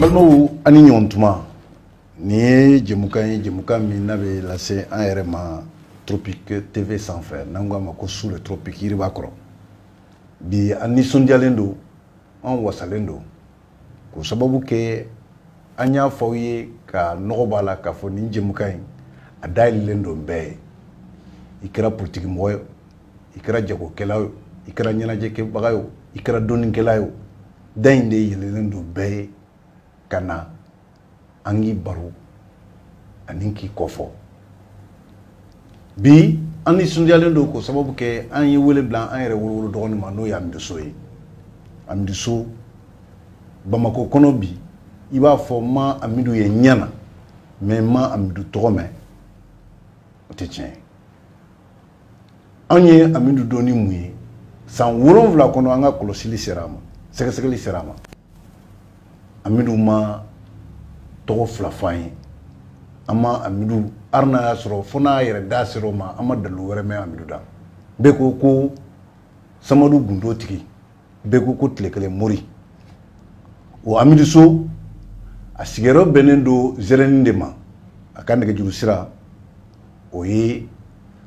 balimaw a' ni ɲɔgɔn tuma nin ye jɛmukan ye jɛmukan min n'a bɛ lase an yɛrɛ ma tropic tv sanfɛ n'an ko a ma ko sous le tropic yiriba kɔrɔ bi an nisɔndiyalen don an wasalen don k'o sababu kɛ an y'a fɔ aw ye ka nɔgɔ b'a la k'a fɔ nin jɛmukan in a dayɛlɛlen don bɛɛ ye i kɛra politikimɔgɔ ye i kɛra jagokɛla ye i kɛra ɲɛnajɛkɛbaga ye i kɛra dɔnnikɛla ye da in de yɛlɛlen don bɛɛ ye ka na an k'i baro ani k'i kɔfɔ bi an nisɔndiyalen don k'o sababu kɛ an ye wele bila an yɛrɛ wolowolo dɔgɔnin ma n'o ye amidu so ye amidu so bamakɔ kɔnɔ bi i b'a fɔ n ma amidu ye ɲɛ na mais n ma amidu tɔgɔ mɛn o tɛ tiɲɛ ye anw ye amidu dɔn ni mun ye san wolonwula kɔnɔ an ka kɔlɔsili sera a ma sɛgɛsɛgɛli sera a ma amidu ma tɔgɔ fila fɔ an ye an ma amidu hali n'a y'a sɔrɔ fo n'a yɛrɛ da sera o ma an ma dalu wɛrɛ mɛn amidu da bɛɛ ko ko samadu gundo tigi bɛɛ ko ko tile kelen mori o amidu so a sigiyɔrɔ bɛnnen don zɛrɛni de ma a ka nɛgɛjuru sira o ye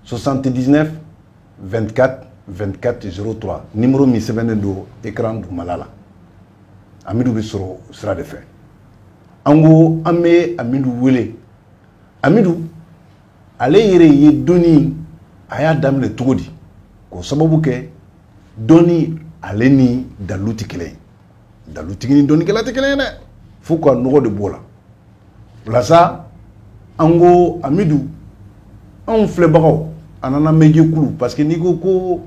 79 24 24 03 nimero min sɛbɛnnen don ekran dugumala la amidu bɛ sɔrɔ o sira de fɛ an ko an bɛ amidu wele amidu ale yɛrɛ ye dɔnni a y'a daminɛ cogo di k'o sababu kɛ dɔnni ale ni dalu tɛ kelen ye dalutigi ni dɔnnikɛla tɛ kelen ye dɛ fo ka nɔgɔ de b'o la o la sa an ko amidu anw filɛbagaw ani an lamɛn jɛkulu parce que n'i ko ko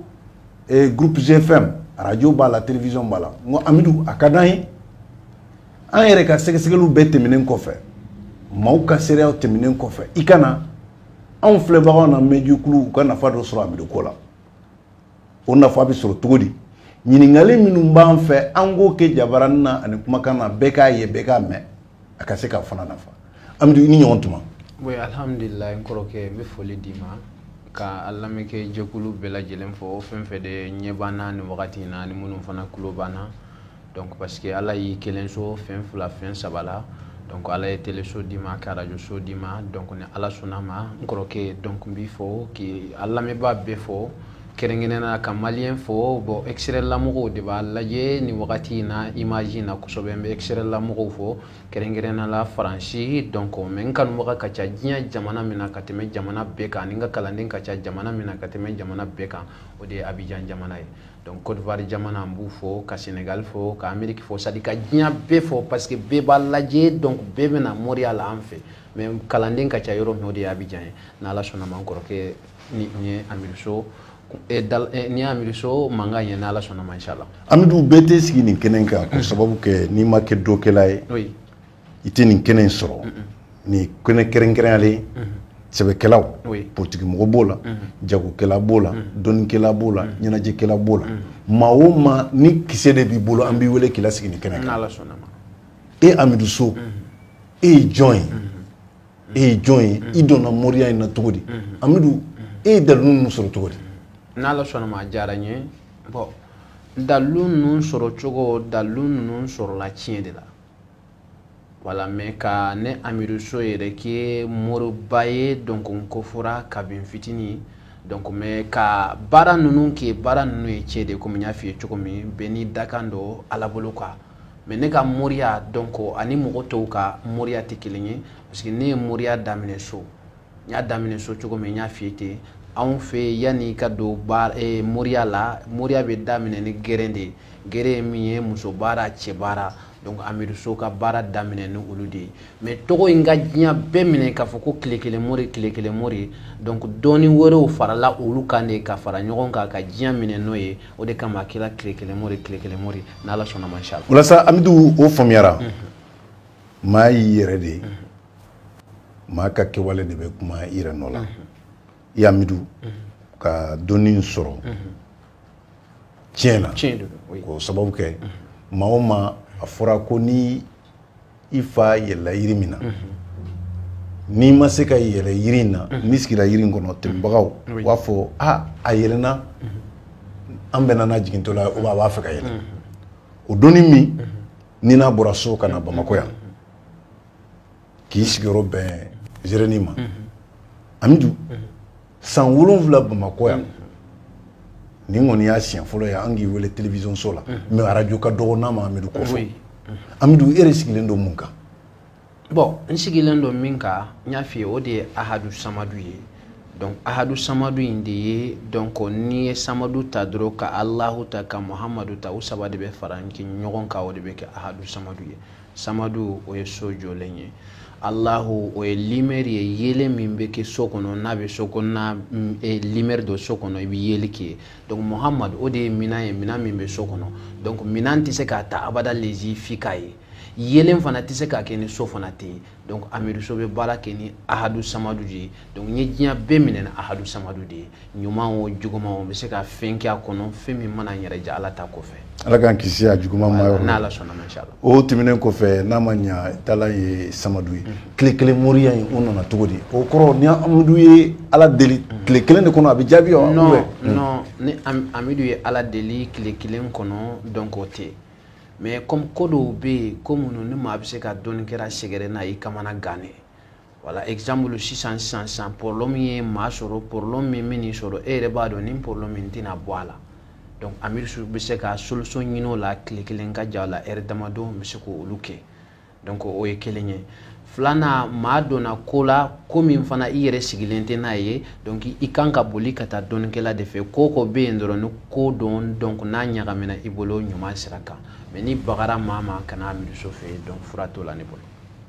eh, groupe gfm radio b'a la télévision b'a la n ko amidu a ka d'an ye an yɛrɛ ka sɛgɛsɛgɛliw bɛɛ tɛmɛnen kɔfɛ maaw ka seereyaw tɛmɛnen kɔfɛ i ka na anw filɛbagaw lamɛn jɛkulu u ka nafa dɔ sɔrɔ amidu ko la o nafa bɛ sɔrɔ cogo di ɲininkali minnu b'an fɛ an k'o kɛ jabarani na ani kumakan na bɛɛ k'a ye bɛɛ k'a mɛn a ka se k'a fana nafa amidu i ni ɲɔgɔn tuma oui alhamdulillah n kɔrɔkɛ n bɛ foli d'i ma ka an lamɛnnikɛ jɛkulu bɛɛ lajɛlen fo fɛn fɛn de ɲɛ b'an na nin wagati in na ani minnu fana tulo b'an na donc parce que ala y'i kelen sɔn fɛn fila fɛn saba la donc ala ye teleso d'i ma k'arajoso d'i ma donc ni ala sɔnna ma n kɔrɔkɛ donc n b'i fo k'i ka lamɛnbaa bɛɛ fo kɛrɛnkɛrɛn na ka mali fo bon extérieur la mɔgɔw de b'a lajɛ nin wagati in na image in na kosɛbɛ n bɛ extérieur la mɔgɔw fo kɛrɛnkɛrɛn na la france donc mais n kanubaga ka ca diɲɛ jamana min na ka tɛmɛ jamana bɛɛ kan ani n ka kalanden ka ca jamana min na ka tɛmɛ jamana bɛɛ kan o de ye abijan jamana ye donc Côte d'Ivoire jamana an b'u fo ka Sénégal fo ka Amérique fo c'est à dire ka diɲɛ bɛɛ fo parce que bɛɛ b'a lajɛ donc bɛɛ bɛna moriya la an fɛ mais kalanden ka ca yɔrɔ min o de ye Abidjan ye n'Ala sɔnna ma n kɔrɔkɛ nin ye Amidou So eh, eh, nin ye Amidou So mankan ye n'Ala sɔnna ma inchallah Amidou bɛɛ tɛ sigi nin kɛnɛ kan k'o sababu kɛ n'i ma kɛ dɔkɛla ye oui i tɛ nin kɛnɛ in sɔrɔ nin kɛnɛ kɛrɛnkɛrɛnyalen sɛbɛkɛlaw politikimɔgɔ b'o la jagokɛla b'o la dɔnnikɛla b'o la ɲɛnajɛkɛla b'o la maa o maa ni kisɛ de b'i bolo an b'i wele k'i lasigi nin kɛnɛ e amidu so e ye jɔn ye e ye jɔn ye i donna moriya in na cogo di amidu e ye dalu ninnu sɔrɔ cogo di n' diyara n ye dalu ninnu sɔrɔ cogo dalu ninnu sɔrɔla tiɲɛ de la voilà mɛ ka ne amidu so yɛrɛ kɛ moriba ye donc o ko fɔra kabini fitinin donc mɛ ka baara ninnu kɛ baara ninnu ye cɛ de komi n y'a f'i ye cogo min bɛɛ n'i dakan don ala bolo kan mais ne ka moriya donc ani mɔgɔ tɔw ka moriya tɛ kelen ye parce que ne ye moriya daminɛ so n y'a daminɛ so cogo min n y'a f'i ten anw fɛ yanni ka don baara eh, moriya la moriya bɛ daminɛ ni geren de ye geren ye min ye muso baara cɛ baara donc amidu so ka baara daminɛ ni olu de ye mais tɔgɔ in ka diɲɛ bɛɛ minɛ k'a fɔ ko tile kelen mori tile kelen mori donc dɔɔni wɛrɛw farala olu kan de ka fara ɲɔgɔn kan ka diɲɛ minɛ n'o ye o de kama a kɛra tile kelen mori tile kelen mori n'ala sɔnna ma inshallah walasa amidu o faamuyara maa y'i yɛrɛ de ye maa ka kɛwale de bɛ kuma i yɛrɛ nɔ la e amidu ka dɔnni in sɔrɔ tiɲɛ na k'o sababu kɛ maa o maa a fɔra ko ni i fa yɛlɛla yiri min na n'i ma se ka yɛlɛ yiri in na n'i sigira yiri in kɔrɔ tɛmɛbagaw u b'a fɔ a a yɛlɛnna an bɛnna n'a jigintɔ la a b'a fɛ ka yɛlɛ o dɔnni min ni n'a bɔra so ka na bamakɔ yan k'i sigiyɔrɔ bɛn zereni ma amidu san wolonwula bamakɔ yan nin kɔni y'a siɲɛ fɔlɔ ye an k'i wele televisionso la mɛ arajo ka dɔgɔ n'a ma amidu kɔfɛ amidu e de sigilen don mun kan bɔn n sigilen don min kan n y'a f'i ye o de ye ahadu samadu ye donc ahadu samadu in de ye donc n'i ye samadu ta dɔrɔn ka alahu ta ka muhamadu ta u saba de bɛ fara ɲɔgɔn kan o de bɛ kɛ ahadu samadu ye samadu o ye so jɔlen ye alahu o ye limɛri ye yeelen min bɛ kɛ so kɔnɔ n'a bɛ so kɔnɔna mm, eh, limɛri don so kɔnɔ i bɛ yeeli kɛ donc muhamadu o de ye minan ye minan min bɛ so kɔnɔ donc minan tɛ se ka ta abada lezi f'i k'a ye yeelen fana tɛ se ka kɛ ni so fana tɛ yen donc amidu so bɛ baara kɛ ni ahadu samadu de ye donc n ye diɲɛ bɛɛ minɛ ni ahadu samadu de ye ɲuman o juguman o bɛ se ka fɛn kɛ a kɔnɔ fɛn min mana n yɛrɛ diya ala ta kɔfɛ ala k'an kisi a juguman ma yɔrɔ n'ala sɔnna ma inshallah o tɛmɛnen kɔfɛ n'a ma ɲa taala ye samadu ye tile kelen moriya in o nana cogo di o kɔrɔ ni amidu ye ala deli tile kelen de kɔnɔ a bɛ jaabi wa non non ni amidu ye ala deli tile kelen kɔnɔ donc o tɛ mais comme ko dɔw bɛ yen ko minnu ni maa bɛ se ka dɔnnikɛla sɛgɛrɛ n'a y'i kamana gan de voilà exemple sisan sisan sisan problème ye maa sɔrɔ problème min y'i sɔrɔ e yɛrɛ b'a dɔn nin problème in tɛna bɔ a la donc amidu so bɛ se ka solution ɲini o la tile kelen ka jan o la heure damadɔ n bɛ se k'olu kɛ donc o ye kelen ye filanan maa donna ko la ko min fana i yɛrɛ sigilen tɛ n'a ye donc i kan ka boli ka taa dɔnnikɛla de fɛ ko ko bɛ yen dɔrɔn ni ko don donc n'a ɲagamina i bolo ɲuman sira kan mɛ n'i bagara maa ma kana na amidu so fɛ yen donc fura t'o la ne bolo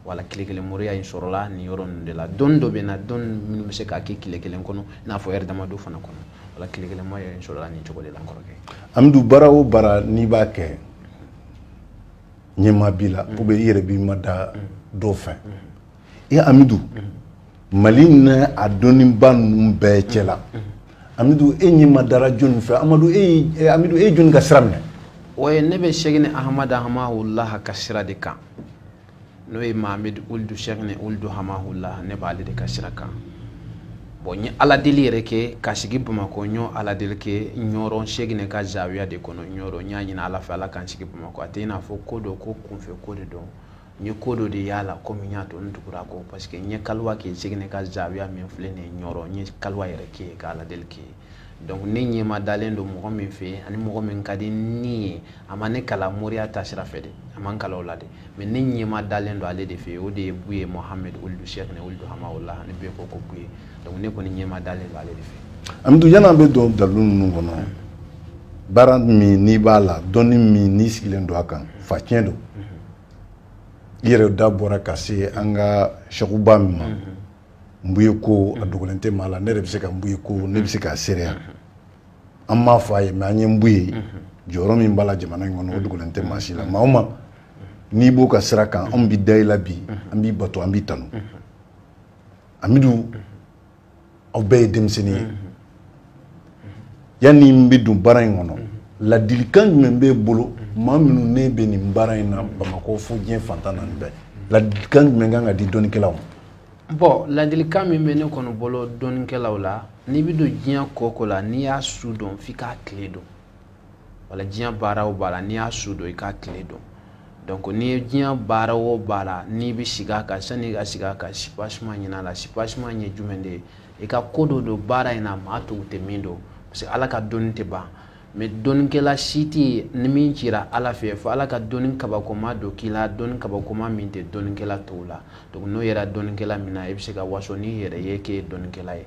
voilà tile kelen moriya in sɔrɔla nin yɔrɔ ninnu de la dɔnni dɔ bɛ n na dɔnni minnu bɛ se k'a kɛ tile kelen kɔnɔ i n'a fɔ ɛri damadɔ fana kɔnɔ voilà tile kelen moriya in sɔrɔla nin cogo de la n kɔrɔkɛ amidu baara o baara n'i b'a kɛ ɲɛmaa b'i la ou bien i yɛrɛ b'i mada dɔw fɛ i amidu mali in na dɔnniba ninnu bɛɛ cɛla amidu e yɛrɛ madara jɔni fɛ amadu e eh, amidu e ye jɔni ka sira minɛ oye ne bɛ sɛkina ahamadu hamahulaha ka sira de kan n'o ye mahamadu uludu sɛkina uludu hamahulaha ne b'ale de ka sira kan bɔn n ye aladeli yɛrɛ kɛ ka sigi bamakɔ n y'o aladeli kɛ ɲɔrɔ sɛkina ka zawiya de kɔnɔ ɲɔrɔ n y'a ɲini ala fɛ ala ka n sigi bamakɔ a tɛ i n'a fɔ ko dɔ ko kunfɛ ko de don n ye ko dɔ de y'a la komi min y'a to n tugura a kɔ parce que n ye kaluwa kɛ sɛkina ka zawiya min filɛ nin ye ɲɔrɔ n ye kaluwa yɛrɛ kɛ ka aladeli kɛ donc ne ɲɛma dalen don mɔgɔ min fɛ ani mɔgɔ min ka di ne ye a ma ne kalan moriya ta sira fɛ dɛ a ma n kalan o la dɛ mais ne ɲɛma dalen don ale de fɛ o de ye buye mohamed oludu sheikhne oludu hamaola an bɛɛ ko ko buye donc ne kɔni ɲɛma dalen don ale de fɛ amidu yanni an bɛ don dalilu ninnu kɔnɔ baara min n'i b'a la dɔnni min n'i sigilen don a kan faciyɛn don i yɛrɛ da bɔra ka se an ka sɛkuba min ma nbuye ko a dogolen tɛ maa la ne yɛrɛ bɛ se ka nbuye ko ne bɛ se k'a seereya an m'a fɔ a ye mɛ an ye nbuye jɔyɔrɔ min b'a la jamana in kɔnɔ o dogolen tɛ maa si la maa o maa n'i b'o ka sira kan anw bɛ da i la bi an b'i bato an b'i tanu amidu aw bɛɛ ye denmisɛnnin ye yanni n bɛ don baara in kɔnɔ ladilikan jumɛn b'e bolo maa minnu ne bɛ nin baara in na bamakɔ fo diɲɛ fan tan naani bɛɛ ladilikan jumɛn kan ka di dɔnnikɛlaw ma bon ladilikan min bɛ ne kɔni bolo dɔnnikɛlaw la n'i bɛ don diɲɛ ko o ko la n'i y'a su dɔn f'i k'a tile dɔn wala diɲɛ baara o baara n'i y'a su dɔn i k'a tile dɔn donc n'i ye diɲɛ baara o baara n'i bɛ sigi a kan sani i ka sigi a kan sipasima ɲin'a la sipasima ye jumɛn de ye i ka ko dɔ dɔn baara in na maa tɔw tɛ min dɔn parce que ala ka dɔnni tɛ ban mɛ dɔnnikɛla si tɛ yen ni min cira ala fɛ fo ala ka dɔnni kabakoma dɔ k'i la dɔnni kabakoma min tɛ dɔnnikɛla tɔw la donc n'o yera dɔnnikɛla min na i bɛ se ka waso n'i yɛrɛ ye k'e ye dɔnnikɛla ye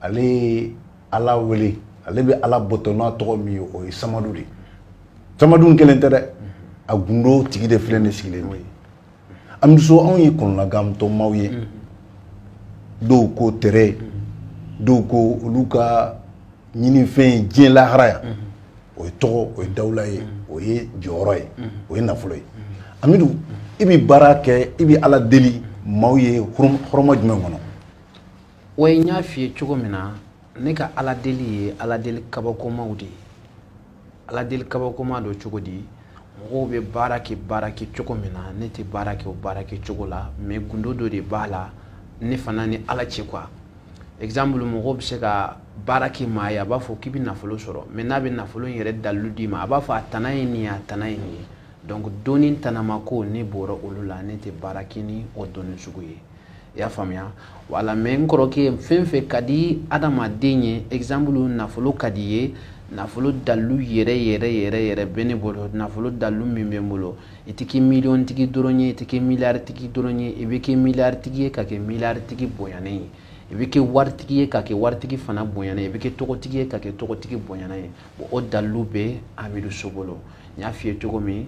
ale ye ala wele ale bɛ ala bato n'a tɔgɔ min ye o ye samadu de ye samadu kelen tɛ dɛ a gundo tigi de filɛ nin sigilen amidu so anw ye kɔnɔnagantɔ maaw ye dɔw ko tere dɔw ko olu ka ɲininfɛn ye diɲɛ lahalaya o ye tɔgɔ o ye dawula ye o ye jɔyɔrɔ ye o ye nafolo ye amidu i bɛ baara kɛ i bɛ ala deli maaw ye hɔrɔma jumɛn kɔnɔ wa n y'a f'i ye cogo min na ne ka ala deli ye ala deli kabakomaw de ye ala deli kabakoma don cogo di mɔgɔw bɛ baara kɛ baara kɛ cogo min na ne tɛ baara kɛ o baara kɛ cogo la mɛ gundo dɔ de b'a la ne fana ni ala cɛ quoi exemple mɔgɔw bɛ se ka baara kɛ maa ye a b'a fɔ k'i bɛ nafolo sɔrɔ mɛ n'a bɛ nafolo in yɛrɛ dalilu d'i ma a b'a fɔ a tana ye nin ye a tana ye nin ye donc dɔnni tanamako ne bɔra olu la ne tɛ baara kɛ ni o dɔnni sugu ye i y'a faamuya wala mɛ n kɔrɔkɛ fɛn fɛn ka di adamaden ye exemple nafolo ka di ye nafolo dalilu yɛrɛ yɛrɛ yɛrɛ yɛrɛ bɛ ne bolo nafolo dalilu min bɛ n bolo i tɛ kɛ miliyɔn tigi dɔrɔn ye i tɛ kɛ miliyari tigi dɔrɔn ye i bɛ kɛ miliyari tigi ye ka kɛ miliyari tigi bonyanen ye i bɛ kɛ waritigi ye ka kɛ waritigi fana bonyanen ye i bɛ kɛ tɔgɔtigi ye ka kɛ tɔgɔtigi bonyanen ye bon o dalilu bɛ amidu so bolo n y'a f'i ye cogo min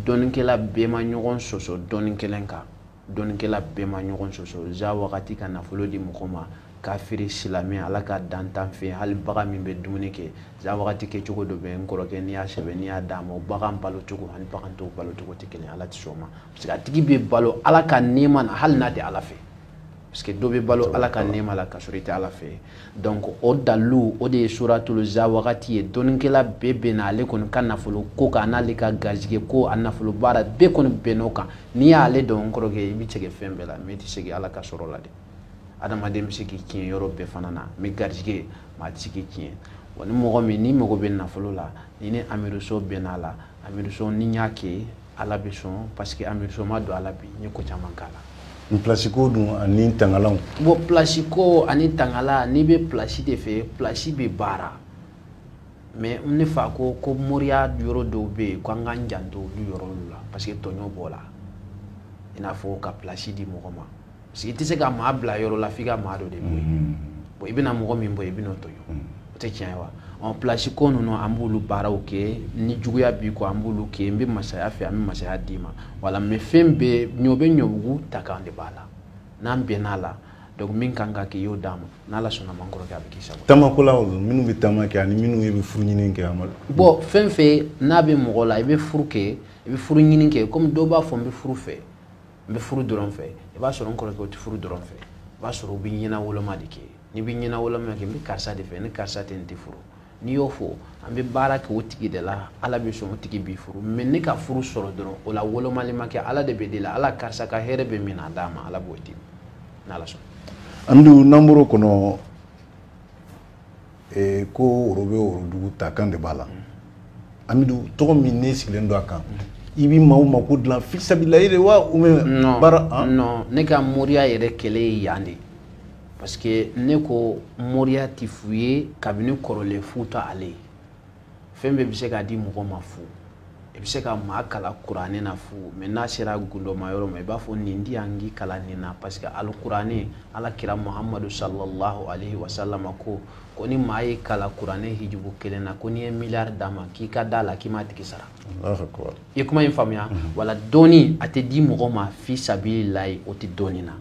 dɔnnikɛla bɛɛ ma ɲɔgɔn sɔsɔ dɔnni kelen kan dɔnnikɛla bɛɛ ma ɲɔgɔn sɔsɔ za wagati ka nafolo di mɔgɔ ma kafiri silamɛ ala ka dantan fɛ hali bagan min bɛ dumuni kɛ za wagati kɛ cogo dɔ bɛ n kɔrɔkɛ n'i y'a sɛbɛn n'i y'a d'a ma o bagan balo cogo ani bagan tɔw balo cogo tɛ kelen ala tɛ sɔn ma parce que a tigi bɛ balo ala ka nɛɛma na hali n'a tɛ ala fɛ parce que dɔ bɛ balo ala ka nɛɛma la ka sɔrɔ i tɛ ala fɛ donc o dalilu o de ye suratuluza wagati ye dɔnikɛla bɛɛ bɛnna ale kɔni ka nafolo ko kan n'ale ka garijigɛ ko a nafolo baara bɛɛ kɔni bɛnn'o kan n'i y'ale dɔn kɔrɔkɛ i bɛ sɛgɛn fɛn bɛɛ la mais i tɛ sɛgɛn ala ka sɔrɔ la dɛ adamaden bɛ se k'i tiɲɛ yɔrɔ bɛɛ fana na mais garijigɛ maa tɛ se k'i tiɲɛ wa ni mɔgɔ min n'i mago bɛ nafolo la ni ni amiruso bɛnn'a la amiruso ni n y'a kɛ ala bɛ sɔn parce que an bɛ soma don hali bi n ye ko caman k'a la plasi ko dun ani tangalanw bon plasi ko ani tangala n'i bɛ plasi de fɛ plasi bɛ baara mais ne fa ko ko moriya yɔrɔ dɔw bɛ yen ko an ka janto olu yɔrɔ la parce que tɔɲɔ b'o la i n'a fɔ ka plasi di mɔgɔ ma parce que i tɛ se ka maa bila yɔrɔ la f'i ka maa dɔ de bɔ yen mm-hmm. bon i bɛna mɔgɔ min bɔ i bɛn'o tɔɲɔ o tɛ tiɲɛ ye wa ɔ place ko ninnu an b'olu baaraw kɛ ni juguya b'i kɔ an b'olu kɛ n bɛ masaya fɛ an bɛ masaya d'i ma voilà mais fɛn bɛɛ ɲɔ bɛ ɲɔbugu ta kan de b'a la n'an bɛnn'a la donc min ka kan k'i y'o d'a ma n'ala sɔnna ma n kɔrɔkɛ a bɛ k'i sago taamako la olu minnu bɛ taama kɛ ani minnu bɛ furu ɲini kɛ amadu bon fɛn o fɛn n'a bɛ mɔgɔ la i bɛ furu kɛ i bɛ furu ɲini kɛ komi dɔw b'a fɔ n bɛ furu fɛ n bɛ furu dɔrɔn fɛ i b'a sɔrɔ n kɔrɔkɛ o tɛ furu dɔrɔn fɛ i b'a sɔrɔ u bɛ ɲɛnawoloma de kɛ n'i bɛ ɲɛnawoloma kɛ n bɛ karisa de fɛ ni karisa tɛ n tɛ furu n'i y'o fɔ an bɛ baara kɛ o tigi de la ala bɛ sɔn o tigi b'i furu mais ne ka furu sɔrɔ dɔrɔn o la wolomali ma kɛ ala de bɛ deli ala karisa ka hɛrɛ bɛ min na a d'a ma ala b'o di n'ala sɔn an dun n'an bɔr'o kɔnɔ ee ko woro bɛ worodugu ta kan de b'a la amidu tɔgɔ min ne sigilen don a kan i bɛ maaw mako dilan fisabililahi de wa ou bien baara ah? non ne ka moriya yɛrɛ kɛlɛ ye yan de parce que ne ko moriya tɛ fu ye kabini kɔrɔlen fu t'ale ye fɛn bɛɛ bɛ se k'a di mɔgɔ ma fu i bɛ se ka maa kalan kuranɛ na fu mais n'a sera gundoma yɔrɔ ma i b'a fɔ nin di yan k'i kalan nin na parce que hali kuranɛ ala kira muhamadu sallallahu alaihi wasalama ko ko ni maa y'i kalan kuranɛ hijibu kelen na ko n'i ye miliyari d'a ma k'i ka d'a la k'i m'a tigi sara i ye kuma in faamuya mhm. voilà dɔnni a tɛ di mɔgɔ ma fisabililahi o tɛ dɔnni na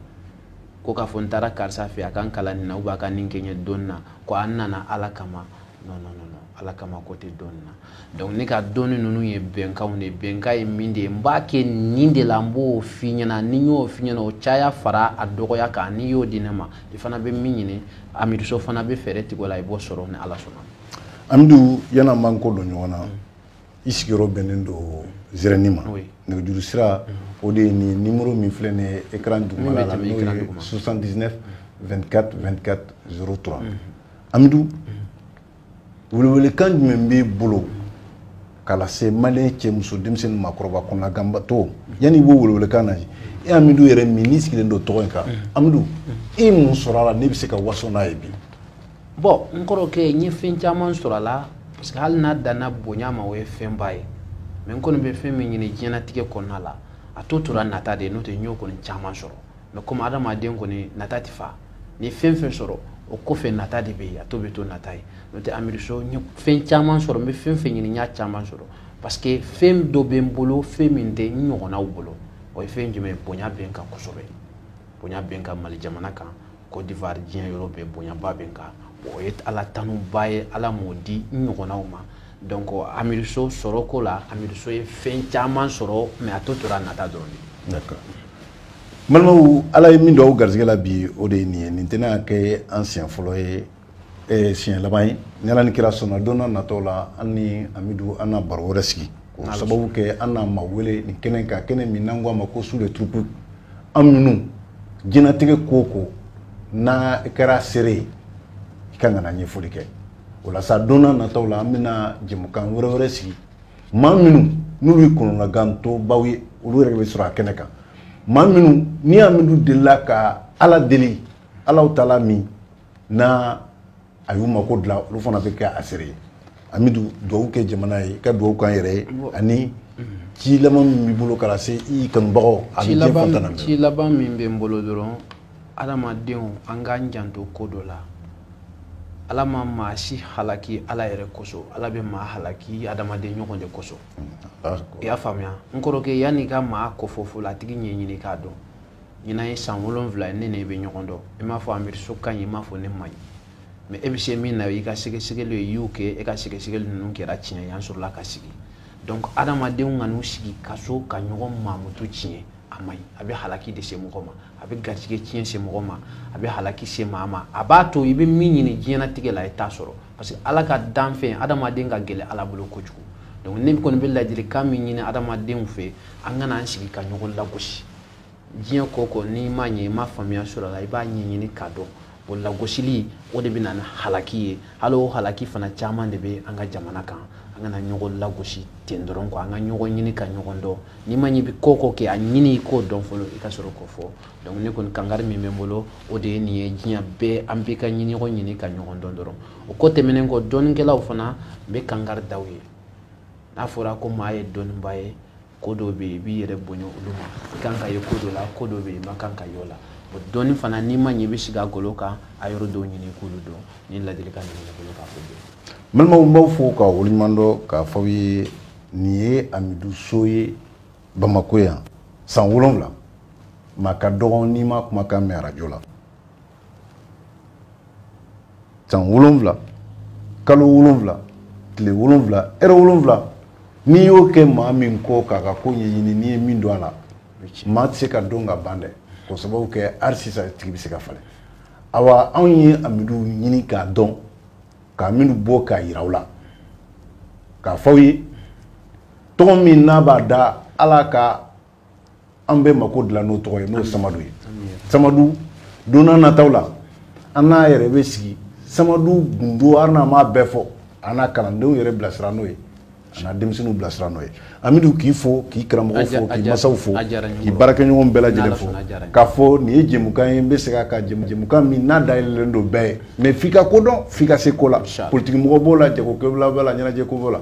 ko k'a fɔ n taara karisa fɛ a ka n kalan nin na ou bien a ka nin kɛ n ye dɔnni na ko an nana ala kama non non non ala kama ko tɛ dɔnni na donc ne ka dɔnni ninnu ye bɛnkanw de ye bɛnkan ye min de ye n b'a kɛ nin de la n b'o f'i ɲɛna ni n y'o f'i ɲɛna o caya fara a dɔgɔya kan n'i y'o di ne ma i fana bɛ min ɲini amidu so fana bɛ fɛɛrɛ tigɛ o la i b'o sɔrɔ ni ala sɔnna amidu yan'an b'an kɔ don ɲɔgɔn na mm. i sigiyɔrɔ bɛnnen don zɛrɛni ma nɛgɛjuru sira mm. o de ye nin nimoro min filɛ nin ye écran dugumala la n'o ye 79 24 24 03 amidu welewelekan jumɛn b'i bolo ka lase maliyɛn cɛ muso denmisɛnnin maakɔrɔba kɔnɔnaganbatɔ yanni i b'o welewelekan na e amidu yɛrɛ min n'i sigilen don tɔgɔ in kan amidu e mun sɔrɔ a la n'i bɛ se ka waso n'a ye bi bon n kɔrɔkɛ n ye fɛn caman sɔrɔ a la parce que hali n'a danna bonya ma o ye fɛnba ye mais n kɔni bɛ fɛn min ɲini diɲɛnatigɛ kɔnɔna la a tɔ tora nata de ye n'o tɛ n y'o kɔni caman sɔrɔ mais komi adamaden kɔni nata tɛ fa n'i fɛn fɛn sɔrɔ o kɔfɛ nata de bɛ yen a tɔ bɛ to nata ye n'o tɛ amidu so n ye fɛn caman sɔrɔ n bɛ fɛn fɛn ɲini n y'a caman sɔrɔ parce que fɛn dɔ bɛ n bolo fɛn min tɛ n ɲɔgɔnnaw bolo o ye fɛn jumɛn ye bonya bɛ n kan kosɛbɛ bonya bɛ n kan mali jamana kan Côte d'Ivoire diɲɛ yɔrɔ bɛɛ bonyaba bɛ n kan o ye ala tanuba ye ala m'o di n ɲɔgɔnnaw ma donc amidu so sɔrɔ ko la amidu so ye fɛn caman sɔrɔ mais a tɔ tora nata dɔrɔn de d'accord balimaw ala ye min don aw garisɛgɛ la bi o de ye nin ye nin tɛna kɛ an siɲɛ fɔlɔ ye eh, siɲɛ laban ye ni ala ni kira sɔnna don na natɔ la an ni amidu an na baro wɛrɛ sigi o sababu kɛ an na maa wele nin kɛnɛ kan kɛnɛ min n'an ko a ma ko su de turupu an minnu diɲɛnatigɛ ko o ko n'a kɛra seere ye i ka kan ka na ɲɛfɔli kɛ o la sa don na natɔw la an bɛna jɛmukan wɛrɛ wɛrɛ sigi maa minnu n'olu ye kɔnɔnagantɔbaw ye olu yɛrɛ bɛ sɔrɔ a kɛnɛ kan maa minnu ni amidu delila ka ala deli a la u taala min na a y'u mako dilan olu fana bɛ kɛ a seere ye amidu dugawu kɛ jamana ye ka dugawu k'an yɛrɛ ye ani ci laban min b'i bolo ka lase i kanubagaw a bɛ diɲɛ fan tan na ci laban min bɛ n bolo dɔrɔn adamadenw an k'an janto ko dɔ la ala ma maa si halaki ala yɛrɛ kosɔn ala bɛ maa halaki adamaden ɲɔgɔn de kosɔn i y'a faamuya n kɔrɔkɛ yann'i ka maa kofɔ fɔlɔ a tigi ɲɛɲini k'a dɔn ɲinan ye san wolonwula ye ne n'e bɛ ɲɔgɔn dɔn i m'a fɔ amidu so ka ɲi i m'a fɔ ne man ɲi mais e bɛ se min na i ka sɛgɛsɛgɛli e y'o kɛ e ka sɛgɛsɛgɛli ninnu kɛra tiɲɛ y'an sɔrɔla ka sigi donc adamadenw kan'u sigi ka so ka ɲɔgɔn mankutu tiɲɛ a man ɲi a bɛ halaki de se mɔgɔ ma a bɛ garijɛgɛ tiɲɛ se mɔgɔ ma a bɛ halaki se maa ma a b'a to i bɛ min ɲini diɲɛnatigɛ la i t'a sɔrɔ parce que ala ka danfɛn adamaden ka gɛlɛn ala bolo kojugu donc ne kɔni bɛ ladilikan min ɲini adamadenw fɛ an kana an sigi ka ɲɔgɔn lagosi diɲɛ ko o ko n'i ma ɲɛ i ma faamuya sɔrɔ a la i b'a ɲɛɲini k'a dɔn o lagosili o de bɛ na ni halaki ye hali o halaki fana caman de bɛ an ka jamana kan an kana ɲɔgɔn lagosi ten dɔrɔn kɔ an ka ɲɔgɔn ɲini ka ɲɔgɔn dɔn n'i ma ɲi bɛ ka ko kɛ a ɲini i k'o dɔn fɔlɔ i ka sɔrɔ k'o fɔ donc ne kɔni kangari min bɛ n bolo o de ye nin ye diɲɛ bɛɛ an bɛ ka ɲini ɲɔgɔn ɲini ka ɲɔgɔn dɔn dɔrɔn o ko tɛmɛnen kɔ dɔnnikɛlaw fana n bɛ kangari d'aw ye n'a fɔra ko maa ye dɔnnibaa ye ko dɔ bɛ yen i b'i yɛrɛ bonya olu ma i kan ka ye ko dɔ la ko dɔ bɛ yen i man kan ka y'o la o dɔɔni fana n'i ma ɲɛ i bɛ sigi a golo kan a yɔrɔ dɔw ɲini i k'olu dɔn ni ladilikan ninnu bɛ n bolo k'a fɔ bi. balimaw n b'aw fo ka waleɲuman dɔn k'a fɔ aw ye nin ye amidu so ye bamakɔ yan san wolonwula maa ka dɔgɔn n'i m'a kumakan mɛn arajo la. san wolonwula kalo wolonwula tile wolonwula ɛrɛ wolonwula n'i y'o kɛ maa min kɔ k'a ka ko ɲɛɲini n'i ye min dɔn a la maa tɛ se ka dɔn ka ban dɛ k'o sababu kɛ hali sisan a tigi bɛ se ka falen awa anw ye amidu ɲini k'a dɔn ka amidu bɔ k'a yira aw la k'a fɔ aw ye tɔgɔ min n'a b'a da ala ka an bɛɛ mako dilan n'o tɔgɔ ye n'o ye samadu ye samadu don nataw la an n'a yɛrɛ bɛ sigi samadu gundo hali n'an m'a bɛɛ fɔ an n'a kalandenw yɛrɛ bilasira n'o ye an n'a denmisɛnninw bilasira n'o ye amidu k'i fo k'i karamɔgɔ fo k'i masaw fo k'i baarakɛɲɔgɔn bɛɛ lajɛlen fo k'a fɔ nin ye jɛmukan ye n bɛ segin a kan jɛmukan min n'a dayɛlɛlen don bɛɛ ye mais f'i ka ko dɔn f'i ka se ko la politikimɔgɔ b'o la jagokɛla b'o la ɲɛnajɛko b'o la